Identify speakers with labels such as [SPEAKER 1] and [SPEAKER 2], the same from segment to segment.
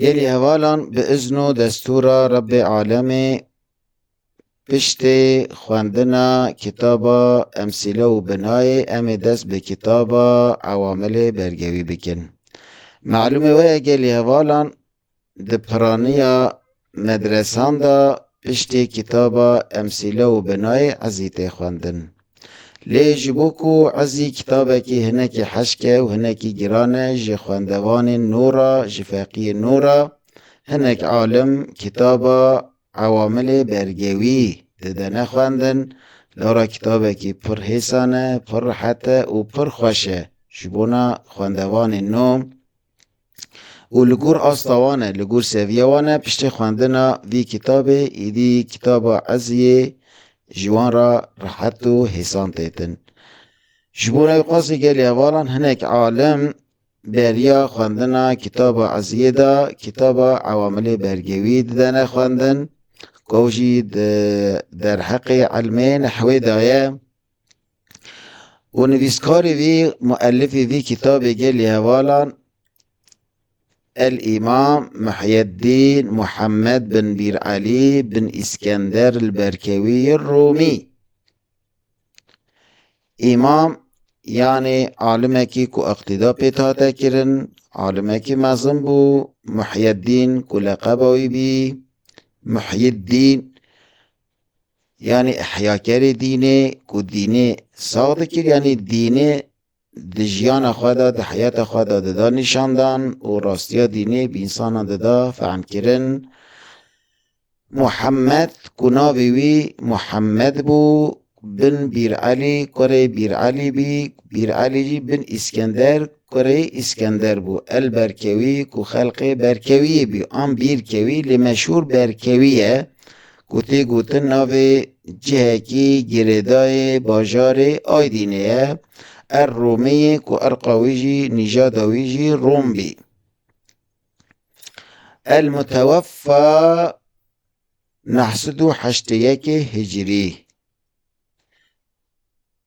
[SPEAKER 1] Gelî hevalan bi izn û destûra Rebbê Alemê piştê xwendina kitaba Emsîle û Binayê em ê dest bi kitaba Ewamilê Bergewî bikin. Malûmê weye gelî hevalan Di piraniya medresan de piştî kitaba Emsîle û Binayê Ezî tê xwendin. Lê ji bo ku ezî kitabekî hinekî heşk e û hinekî giran e ji xwendevanên nû re, ji feqiyên nû re, hinek alim kitaba Ewamilê Bergewî didene xwendin, lara kitabekî pir hêsan e, pir rihet e û pir xweş e ji bona xwendevanên nû. û li gor asta wan e, li gor seviya wan e piştê xwendina vî kitabê êdî kitaba eziyê ji wan re rehet û hêsan tê din. Ji bo rewî qasî gelê hevalan hinek alim beriya xwendina kitaba eziyê da kitaba ewamilê bergewî didene xwendin ku ew jî di derheqê elmê nehwê de ye. û nivîskarê vî muelifê vî kitabê gelê hevalan El Îmam Muhyeddîn Muhammed bin Bîr Elî bin Îskender li Berkewî Rûmî. Îmam yanê alimekî ku iqtîda pê hate kirin, alimekî mezin bû, Muhyeddîn ku leqeba wî bî, Muhyiddîn Yanî ihyakerê dînê ku dînê sax dikir yanî dînê di jiyana xwe de, di heyata xwe de dida nîşandan û rastiya dînê bi însanan dida fehmkirin. Muhemmed ku navê wî Muhemmed bû, bin Bîr Elî, kurê Bîr Elî bî, Bîr Elî jî bin Îskender, kurê Îskender bû. El Berkewî ku xelqê Berkewiyê bî an Bîrkewî lê meşhûr Berkewî ye. ku tê gotin navê cihekî girêdayê bajarê Aydînê ye, Er Romî yê ku irqa wî jî nîjada wî jî Rom bî. El muteweffa neh sed û heştê yekê hicrî.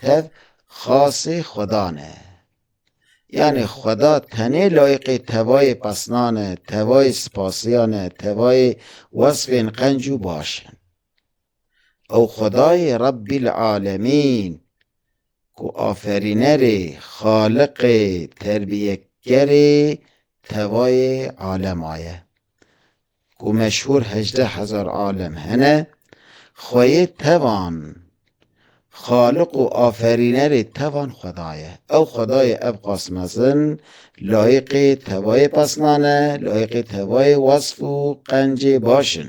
[SPEAKER 1] Tev xasê Xweda ne. Yanê Xweda tenê layiqê tevayê pesnan e, tevayê sipasiyan e, tevayê wesfên qenc û baş in. Ew Xwedayê Rebbîl Alemîn ku Aferînerê, Xaliqê, Terbîyekerê tevayê alema ye. ku meşhûr hejdeh hezar alem hene, xweyê tevan, xaliq û aferînerê tevan xweda ye. Ew xwedayê ev qas mezin, layiqê tevayê pesnan e, layiqê tevayê wesf û qencê baş in.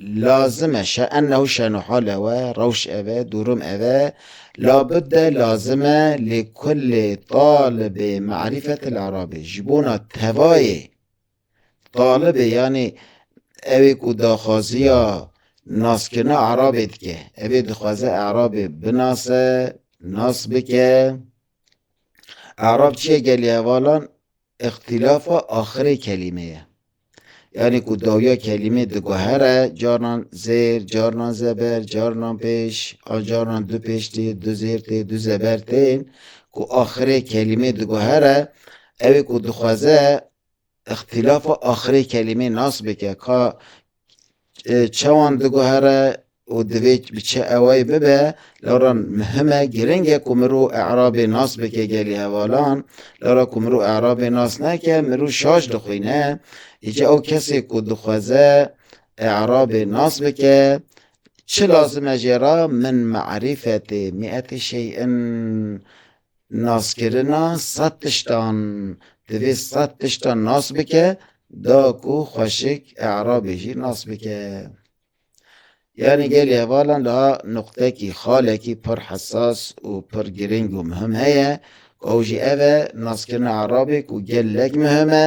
[SPEAKER 1] Lazim e, şe ennehu şenu hale we, rewş ev e, durum ev e, la budde lazim e li kullê talibê marîfetil arabî, ji bona tevayê talibê yanî ewê ku daxwaziya naskirina arabê dike, evê dixwaze arabê binase, nas bike, arab çi ye gelê hevalan îxtîlafa axirê kelîme ye. Yanî ku dawiya kelîmê diguhere carnan zêr, carnan zeber, carnan pêş an carnan du pêş tê, du zêr tê, du zeber tê ku axirê kelîmê diguhere ew ê ku dixweze îxtîlafa axirê kelîmê nas bike ka çawan diguhere û divê bi çi ewayî bibe, lewra muhim e, girîng e ku mirov e'rabê nas bike gelî hevalan. Lewra ku mirov e'rabê nas neke, mirov şaş dixwîne. Îcar ew kesê ku dixweze e'rabê nas bike, çi lazim e jê re? Min me'rîfetê, mî'etê şey'in, Naskirina sed tiştan, divê sed tiştan nas bike da ku xweşik e'rabê jî nas bike. Yanî gelê hevalan da nuqtekî xalekî pir hesas û pir girîng û muhim heye, ew jî ev e naskirina e'rabê ku gelek muhim e.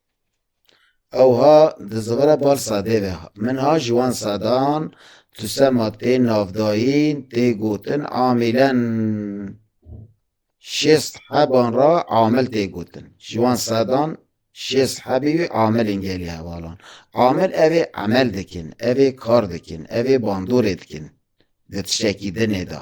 [SPEAKER 1] Ew ha di zivira bal sadê ve min ha ji wan sadan tu sema tê navdayîn tê gotin amîlen. Şêst heban ra amil tê gotin. Ji wan sedan şêst hebî wî amil in gelê hevalan. Amil ev ê emel dikin, ev ê kar dikin, ev ê bandorê dikin di tiştekî dinê de.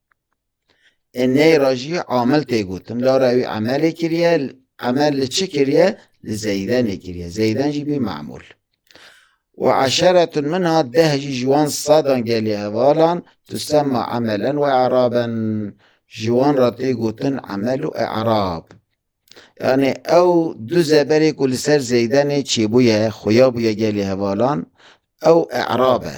[SPEAKER 1] ê ney ra jî amel tê gotin lara wî emelê kiriye emel li çi kiriye li zeydenê kiriye zeyden jî bî memûl û eşeretun min ha deh jî ji wan sedan gelê hevalan tu sema emelen we eraben ji wan ra tê gotin emel û erab yanê ew du zeberê ku li ser zeydenê çêbûye xuya bûye gelê hevalan ew erabe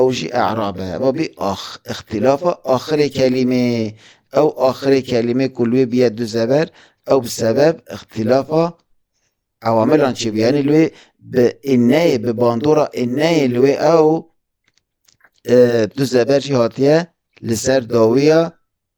[SPEAKER 1] Ew jî e'rab e. Ma bî ax, îxtîlafa axirê kelîmê. Ew axirê kelîmê ku li wê bîye du zeber, ew bi sebeb îxtîlafa ewamilan çêbûye. Yanî li wê bi înneyê, bi bandora înneyê li wê ew du zeber jî hatiye li ser dawiya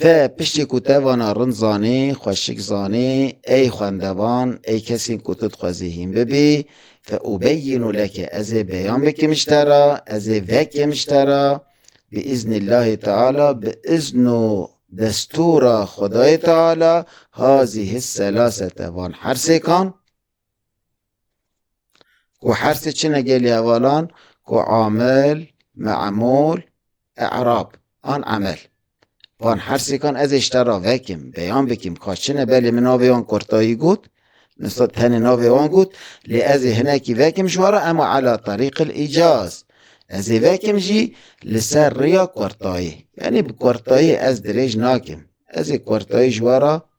[SPEAKER 1] Te piştî ku te vana rind zanî, xweşik zanî, ey xwendevan, ey kesên ku tu dixwezî hîn bibî, fe ubeyinu leke ez ê beyan bikim ji te re, ez ê vekim ji te re, bi îznî Llahî Teala, bi îzn û destûra Xwedayê Teala, hâzî his selasete van hersêkan, Ku hersê çine gelê hevalan ku amil, me'mul, e'rab an emel. Van hersêkan ez ê ji te re vekim, beyan bikim ka çine belê min navê wan Kurtayî got, nisa tenê navê wan got, lê ez ê hinekî vekim ji wan re ema ela terîqil îcaz. Ez ê vekim jî li ser rêya Kurtayî. Yanî bi Kurtayî ez dirêj nakim. Ez ê Kurtayî ji wan re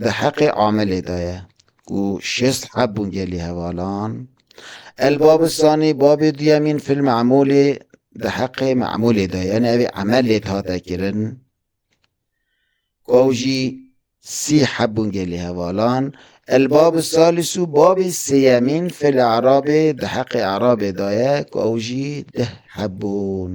[SPEAKER 1] Di heqê Amelê de ye ku şêst heb bûn gelî hevalan. Elbabistanî bavê duyemîn fil Memûlê di heqê Memûlê de ye. Evê Emelê dihate kirin ku ew jî sî heb bûn gelî hevalan. Elbab Salîs û bavê sêyemîn fil Erabê di heqê Erabê de ye ku ew jî deh heb bûn.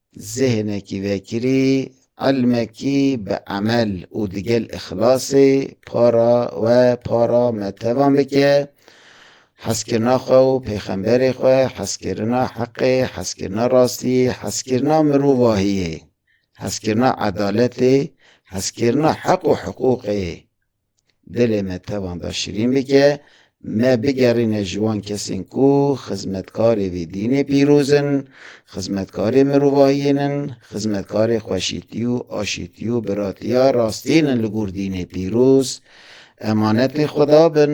[SPEAKER 1] Zêhnekî vekirî, elmekî bi emel û di gel îxlasê para we para me tevan bike, hezkirina xwe û pêxemberê xwe, hezkirina heqê, hezkirina rastiyê, hezkirina mirovahiyê, hezkirina edaletê, hezkirina heq û hiqûqê, Dilê me tevan da şirîn bike, me bigerîne ji wan kesên ku xizmetkarê vê dînê pîroz in, xizmetkarê mirovahiyên in, xizmetkarê xweşîtî û aşîtî û biratiya rastîn in li gor dînê pîroz, emanetê Xweda bin